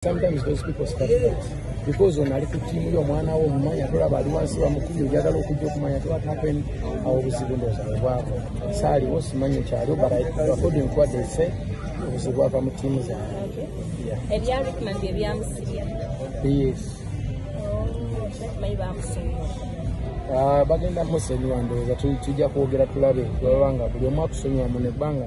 Sometimes those people start because on ali kutimu yo mwana wo mumanya tola bali wansi wa mukumi ojagala okujja okumanya to what happened awo obuzibu ndooza bwebwako saali wo simanyi ekyaliwo but according to what they say obuzibu bwava mu tiimu zaabwe ebya rikman bye byamusibya yes bakimanyi oh, bamusonyiwa ah, bagenda musonyiwa ndowooza tujja kwogera tulabe bwebabanga buli omu akusonyiwa mu nebbanga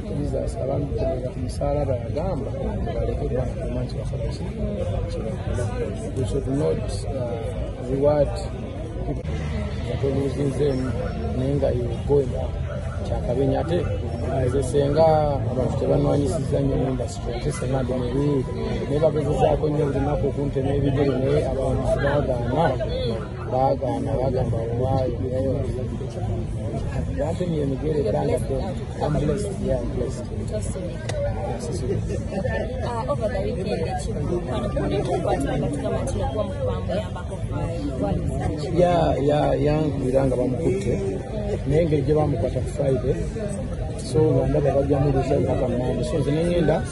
Jesus abantu kubera ku musalaba yagamba baleke bwakuma nti bakola ki we should not uh, reward nga toluzinzeemu naye nga yogoya kyakabenya ate nze senga abantu tebanwanyisiza nyo industry ate senga ndi mubi naye bagezezaako nyo olunaku okuntema ebigere naye abantu bagamba baagaana bagamba waayo wantumye emigere ebanga yankubira nga bamukutte naye engeri gye bamukwata ku friday so ndaba bajjamu lusajja kamande so zine ngenda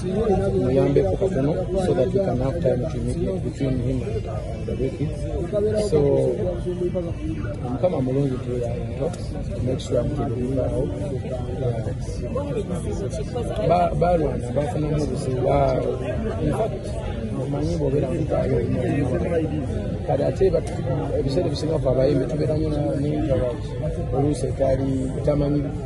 muyambeko katono so that we can have time to meet between him and the wiki so mukama mulungi to ya into make sure I'm to deliver out balwana bafunamu obuzibu in fact omanyi bwobeera mukaayo kati ate ebiseera ebisinga fe abayimbi tubeera nyo n'interact oluusi etali tamanyi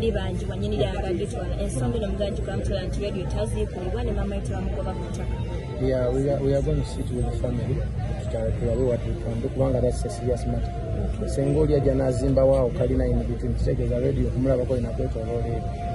libanjibwa nyini lyanga gitwala ensonga eno muganji gwamutwala nti radio taziikulibwa ne maama yete bamugoba ku ttaka Yeah, we are, we are going to sit with the family tulabe what we can do kubanga that's a serious matter senga oli ajja n'azimbawo awo kalina in between kitegeeza radio okumulabako inakwetoloola ebyo